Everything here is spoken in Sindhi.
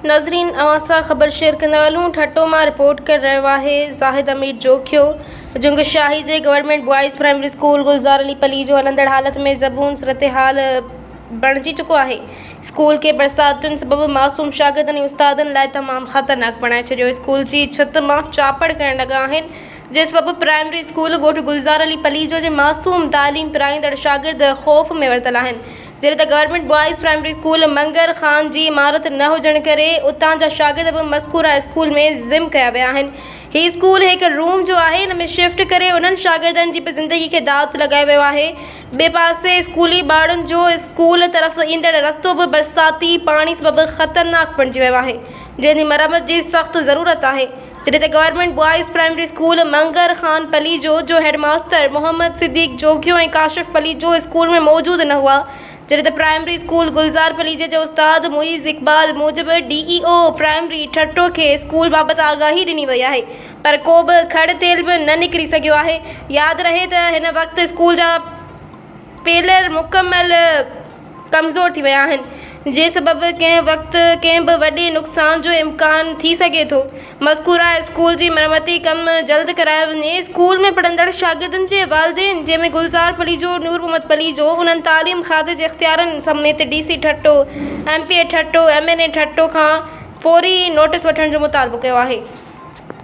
ناظرين اوهان سان خبر شيئر ڪندا هلون ٺٽو مان رپورٽ ڪري رهيو آهي زاهد امير جوکيو جنگ شاهي جي government boys primary school Gulzar Ali Palijo هلندڙ حالت ۾ زبون صورتحال بڻجي چڪو آهي اسڪول کي برساتن سبب معصوم شاگردن ۽ استادن لاء تمام خطرناڪ بڻائي ڇڏيو اسڪول جي ڇت مان چاپڙ ڪرڻ لڳا آهن جنهن سبب پرائمري اسڪول ڳوٺ گلزار علي پليجو جي معصوم تعليم پرائيندڙ شاگرد خوف ۾ ورتل آهن جڏهن ته government boys primary school Mangar Khan جي عمارت نه هجڻ ڪري اتان جا شاگرد به مذڪوره اسڪول ۾ ضم ڪيا ويا آهن هي اسڪول هڪ روم جو آهي ان ۾ شفٽ ڪري انهن شاگردن جي به زندگي کي داء تي لڳايو ويو آهي ٻئي پاسي اسڪولي ٻارڙن جو اسڪول طرف ايندڙ رستو به برساتي پاڻي سبب خطرناڪ بڻجي ويو آهي جنهن جي مرمت جي سخت ضرورت آهي جڏهن ته government boys primary school Mangar Khan Palijo جو head master Muhammad Siddique Jokhio ۽ Kashif Palijo school ۾ موجود نه هئا جڏهن ته پرائمري اسڪول گلزار پليجي جي استاد معيز اقبال موجب D E O primary Thatta کي اسڪول بابت آگاهي ڏني وئي آهي پر ڪوبه کڙ تيل به نه نڪري سگهيو آهي ياد رهي ته هن وقت اسڪول جا پيلر مڪمل ڪمزور ٿي ويا آهن، جنهن سبب ڪنهن وقت ڪنهن به وڏي نقصان جو امڪان ٿي سگهي ٿو، مذڪوره اسڪول جي مرمتي ڪم جلد ڪرايو وڃي، اسڪول ۾ پڙهندڙ شاگردن جي والدين جنهن ۾ گلزار پليجو، نور محمد پليجو، انهن تعليم کاتي جي اختيارين سميت D C Thatta, M P A Thatta, M N A Thatta کان فوري نوٽيس وٺڻ جو مطالبو ڪيو آهي.